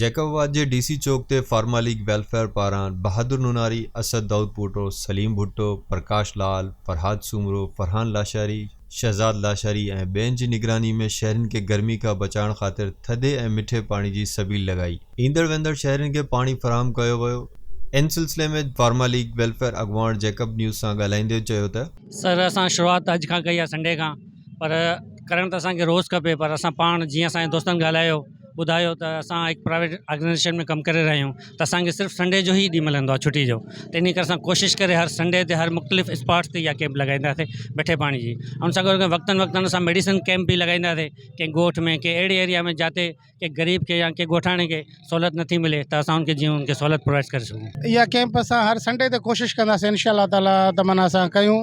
Jacob آباد جي D C چوڪ تي فارما ليگ ويلفيئر پاران بهادر نوناري، اسد دائودپوٽو، سليم ڀٽو، پرڪاش لعل، فرهاد سومرو، فرحان لاشاري، شهزاد لاشاري ۽ ٻين جي نگراني ۾ شهرين کي گرمي کان بچائڻ خاطر ٿڌي ۽ مٺي پاڻي جي سبيل لڳائي. ايندڙ ويندڙ شهرين کي پاڻي فراهم ڪيو ويو. ان سلسلي ۾ فارما ليگ ويلفيئر اڳواڻ جيڪب نيوز سان ڳالهائيندي چيو ته. سر اسان شروعات اڄ کان ڪئي آهي سنڊي کان پر ڪرڻ ته اسان کي روز کپي پر اسان پاڻ جيئن اسان جي دوستن ڳالهايو ٻڌايو ته اسان هڪ پرائيويٽ آرگنائيزيشن ۾ ڪم ڪري رهيا آهيون ته اسانکي صرف سنڊي جو ئي ڏينهن ملندو آهي ڇٽي جو ته ان ڪري اسان ڪوشش ڪري هر سنڊي تي هر مختلف اسپاٽس تي اها ڪيمپ لڳائينداسي مٺي پاڻي جي ۽ ان سان گڏ گڏ وقتاً وقتاً اسان ميڊيسن ڪيمپ به لڳائينداسي ڪنهن ڳوٺ ۾ ڪنهن اهڙي ايريا ۾ جاتي ڪنهن غريب کي يا ڪنهن ڳوٺاڻي کي سهولت نٿي ملي ته اسان ان کي جيئن ان کي سهولت پرووائڊ ڪري سگهون اها ڪيمپ اسان هر سنڊي تي ڪوشش ڪنداسين ان شاء الله تعالٰي تمنا سان ڪيون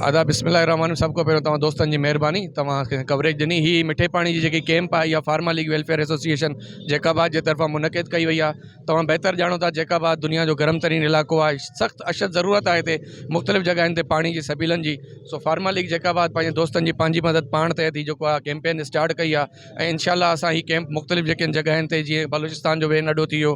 آداب بسم الله الرحمن الرحيم سڀ کان پهريون توهان دوستن جي مهرباني توهان کي ڪوريج ڏني هي مٺي پاڻي جي جيڪي ڪيمپ آهي يا pharma league welfare association Jacobabad جي طرفان منعقد ڪئي وئي آهي توهان بهتر ڄاڻو ٿا جيڪب آباد دنيا جو گرم ترين علائقو آهي سخت اشد ضرورت آهي هتي مختلف جڳهين تي پاڻي جي سبيلن جي سو فارما ليگ جيڪب آباد پنهنجي دوستن جي پنهنجي مدد پاڻ تحت هي جيڪو آهي ڪيمپين اسٽارٽ ڪئي آهي ۽ انشاء الله اسان هي ڪيمپ مختلف جيڪي جڳهين تي جيئن بلوچستان جو وين اڏو ٿي ويو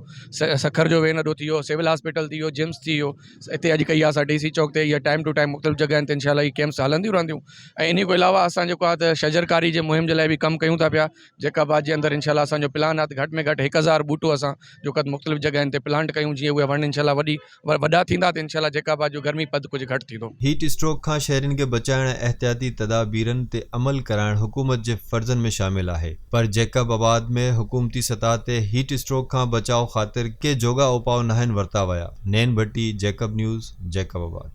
سکر جو وين اڏو ٿي ويو سول هاسپيٽل ٿي ويو جمس ٿي ويو اتي اڄ ڪئي آسان ڊي سي چوڪ تي ٽائم ٽو ٽائم مختلف جڳهن تي انشاء الله هي ڪيمپس هلنديون رهنديون ۽ انهي کان علاوه اسان جيڪو آهي ته شجر ڪاري جي مهم جي لاء به ڪم ڪيون ٿا پيا جيڪا بعد جي اندر انشاء الله اسان جو پلان آهي ته گهٽ ۾ گهٽ هڪ هزار ٻوٽو اسان جيڪو آهي مختلف جڳهن تي پلانٽ ڪيون جيئن اهي وڻ انشاء الله وڏي وڏا ٿيندا ته انشاء الله جيڪا بعد جو گرمي پد ڪجهه گهٽ ٿيندو. هيٽ اسٽروڪ کان شهرين کي بچائڻ ۽ احتياطي تدابيرن تي عمل ڪرائڻ حڪومت جي فرضن ۾ شامل آهي. پر جيڪب آباد ۾ حڪومتي سطح تي هيٽ اسٽروڪ کان بچاء خاطر ڪي جوڳا اوپاء ناهن ورتا ويا، نين ڀٽي، جيڪب نيوز، جيڪب آباد.